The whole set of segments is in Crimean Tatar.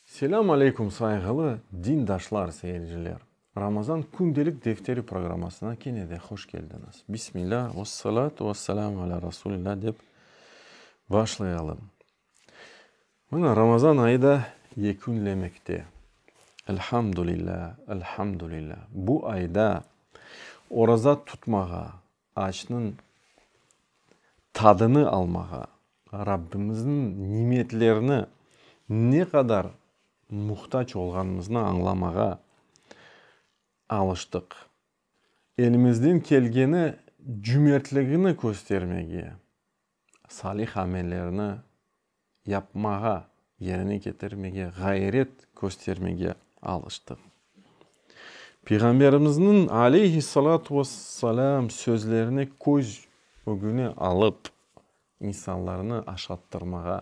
Selâm aleykum sayğılı dindaşlar, seyirciler! Ramazan kündelik defteri programmasına kene de hoş keldiñiz. Bismilâ, vessalâtu vesselâmu alâ Rasulilâ dep başlayalım. Mına, Ramazan ayı da yekünlemekte. Elhamdülillâ, elhamdülillâ! Bu ayda oraza tutmağa, Ağaçnıñ tadını almağa, Rabbimizniñ nimetlerine ne qadar muhtac olğanımıznı añlamağa alıştıq. Elimizden kelgeni cümertligini köstermege. salih amellerni yapmağa, yerine ketirmege ğayret köstermege alıştıq. Peyğamberimizniñ, aleyhissalâtu vesselâm, sözlerini köz ögüne alıp, insanlarnı aşattırmağa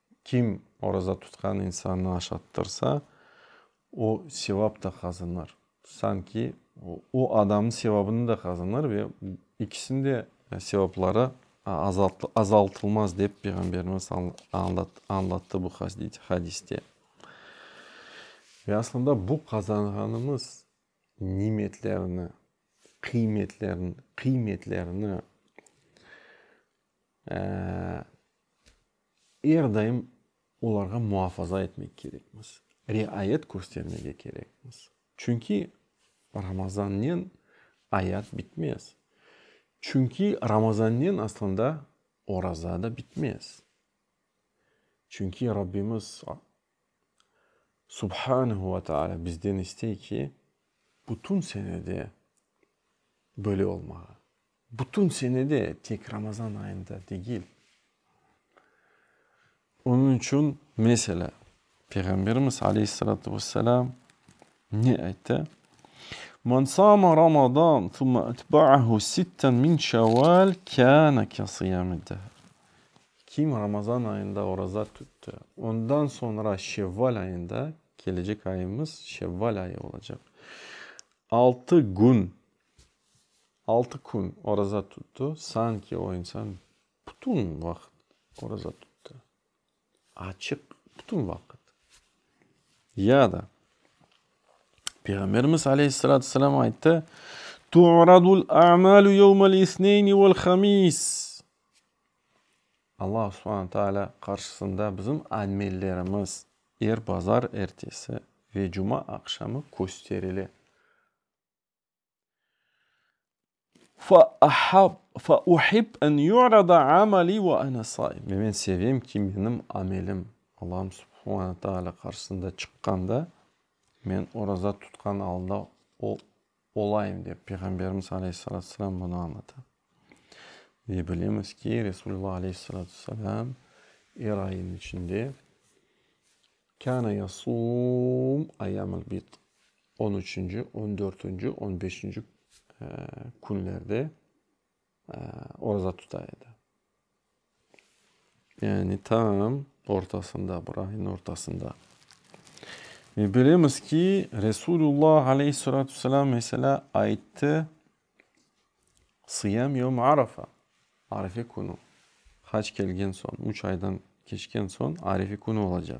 Kim oraza tutqan insannı aşattırsa, o sevap da qazanır. Sanki o adamnıñ sevabını da qazanır ve ikisiniñ de sevapları azaltılmaz, dep Peyğamberimiz añlattı bu hadiste. Ve aslında bu qazanğanımız nimetlerni, qıymetlerini Er daim olarğa muafaza etmek kerekmiz, riayet köstermege kerekmiz. Çünki Ramazannen ayat bitmez. Çünki Ramazannen aslında oraza da bitmez. Çünki Rabbimiz Subhanehu ve Teala bizden istey ki, bütün senede böyle olmağa. Bütün senede, tek Ramazan ayında degil. Onıñ içün, meselâ, Peyğamberimiz aleyhissalâtu ve selâm ne ayttı? Men sâme Ramadan sümme etbâ'ahu sitten min Şevval kâne ke sıyâmid dehr. Kim Ramazan ayında oraza tütti, ondan soñra Şevval ayında, kelecek ayımız Şevval ayı olacaq, altı gün, altı kün oraza tütti, sanki o insan bütün vaqıt oraza tütti, açıq bütün vaqıt. Ya da Peyğamberimiz aleyhissalâtu vesselâm ayttı, Tu'radul a'mâlu yevmel isneyni vel hamis. Allahu subhana taalâ qarşısında bizim amellerimiz er bazar ertesi ve cuma aqşamı kösterile. Fa ahab, fa uhib en yu'rada amali ve ene saim. Ve men sevem ki, menim amelim Allahu subhana taalâ qarşısında çıqqanda, men oraza tutqan alda o olayım, dep Peyğamberimiz aleyhissalâtu vesselâm bunı añlata. Ve bilemiz ki, Resulullah aleyhissalâtu vesselâm er ayınıñ içinde kâne yasûm ayyâmul bid, on üçünci, on dörtünci, on beşinci künlerde, Oraza tuta edi. Yani tam ortasında, bir ayniñ ortasında. Ve bilemiz ki, Resulullo aleyhissalâtu vesselâm meselâ ayttı, Sıyâm yevm arafa, arefe künü. Hac kelgen soñ, üç aydan keçken soñ arefe künü olacaq.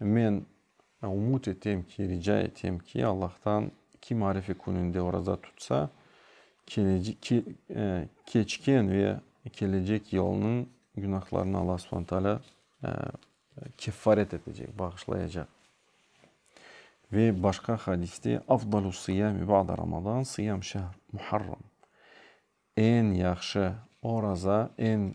Men ümüt etem ki, rica etem ki, Allahtan, kim Arife kününde oraza tutsa, keçken ve kelecek yılınıñ günahlarını Alla subhane taalâ keffaret etecek, bağışlayacaq. Ve başqa hadiste, Afdalu sıyami ba'de Ramazan, sıyam şehr Muharram. Eñ yahşı oraza, eñ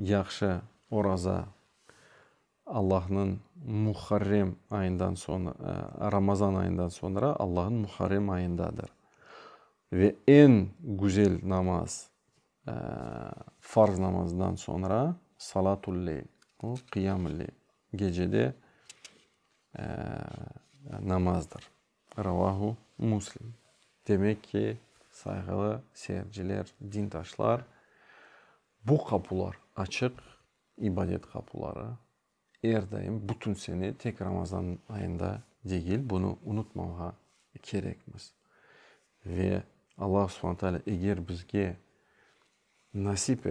Yahşı oraza, Allahnıñ Muharrem ayından soñ, Ramazan ayından soñra Allahnıñ Muharrem ayındadır. Ve eñ güzel namaz, farz namazından soñra Salatul leyl, o, Qiyamul leyl, gecede namazdır. Ravahu Muslim. Demek ki, sayğılı seyirciler, dintaşlar, bu qapular açıq, ibadet qapuları, er daim, bütün sene, tek Ramazan ayında degil, bunı unutmavğa kerekmiz. Ve Alla subhana taalâ eger bizge nasip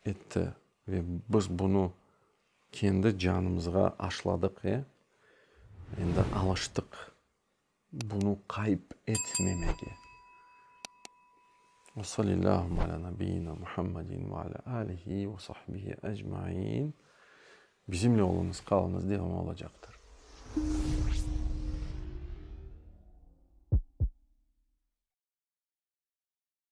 etti ve biz bunı Kendi canımızğa aşladıq, e, endi alıştıq bunı qayıp etmemege. Ve salillâhümme alâ nabiyyina Muhammedin ve alâ âlihi ve sahbihi ecmain. Bizimle olunız, qalınız, devamı olacaqtır.